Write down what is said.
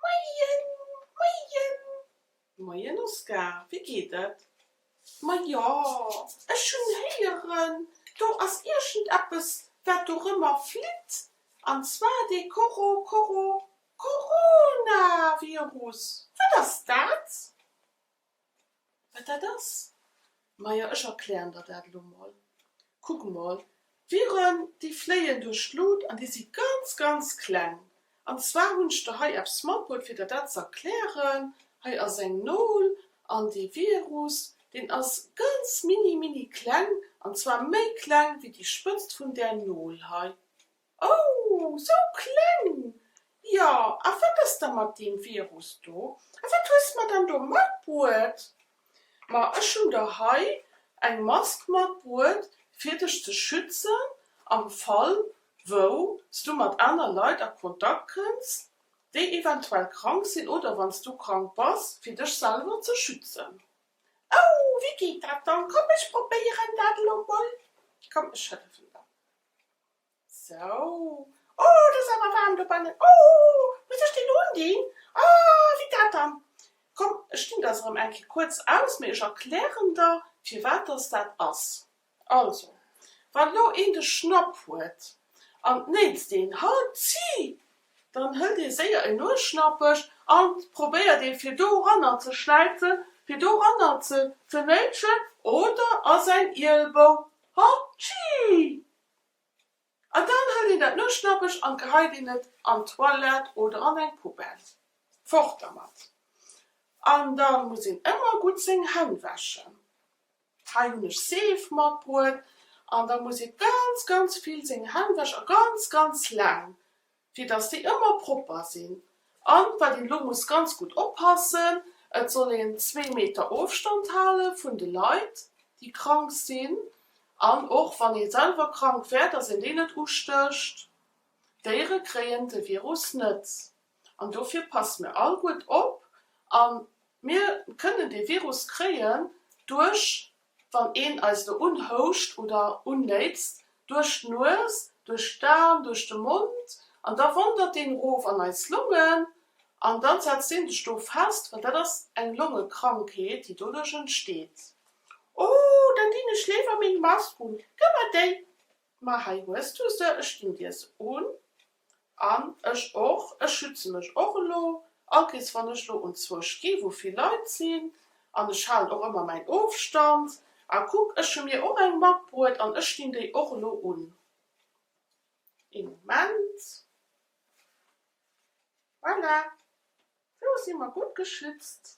Moien moien. Moien Oskar, wéi geet et? Ma jo, ech hunn héieren, do ass iergendeppes wat dorëmmer flitt, an zwar dee Coro Coro Coronavirus. Wat ass dat? Wat dat ass? Majo, ech erklären der dat elo mol. Kuck mol, Viren, déi fléien duerch d'Lut an déi si ganz, ganz kleng. An zwar hunn ech der hei eppes matbruet, fir der dat ze erklären. Hei ass eng Nol an dee Virus, deen ass ganz mini, mini kleng, an zwar méi kleng wéi déi Spëtzt vun där Nol hei. Oh, sou kleng! Jo, a wat ass da mat deem Virus do? A wat hues mer dann do matbruet? Ma ech hunn der hei eng Mask matbruet, fir dech ze schützen am Fall, wou s du mat aner Leit a Kontakt kënns, déi eventuell krank sinn, oder wann s du krank bass, fir dech selwer ze schützen. Oh, wéi geet dat dann? Komm, ech probéieren dat elo mol. Komm, ech hëllefen der. Sou, oh, et ass awer waarm dobannen. Oh, muss ech deen undinn? Ah, wéi dat dann? Komm, ech dinn der se rëm eng Kéier kuerz aus, mee ech erklären der, firwat dass dat ass. Also, wann elo een de Schnapp huet an d'Néits deen Halt zi, dann hëlt ee séier een Nuesschnappech an probéiert ee fir doranner ze schläizen, fir doranner ze knëitschen oder a säin Ielbou. Halt zi! An dann hëlt een dat Nuechtschnappech an geheit een et an d'Toilette oder an eng Poubelle. Fort dermat! An da muss een ëmmer gutt seng Hänn wäschen. Hei hunn ech Seef matbruet. An da muss ee ganz, ganz vill seng Hänn wäschen a ganz, ganz laang. fir dass déi ëmmer propper sinn an wat een elo muss ganz gutt oppassen, et soll een zwee Meter Ofstand hale vun de Leit déi krank sinn an och wann ee selwer krank wär, dass een déi net ustécht. D'Déiere kréien de Virus net an dofir passe mir all gutt op a mir kënnen dee Virus kréien duerch Wann een eis do unhouscht oder unnéitzt, duerch d'Nues, duerch d'An, duerch de Mond, an da wandert deen erof an eis Longen an da setzt deen sech do fest, well dat ass eng Longekrankheet, déi doduerch entsteet. Oh, da ginn ech léiwer meng Mask un. Gëmm mer déi! Ma hei hues du se, ech ginn dir se un. An ech och. Ech schütze mech och elo. Allkéirs wann ech elo unzwuesch gi wou vill Leit sinn. An ech halen och ëmmer mäin Ofstand. A kuck, ech hu mir och eng matbruet an ech dinn déi och elo un. Ee Moment. Voilà. Elo si mer gutt geschützt.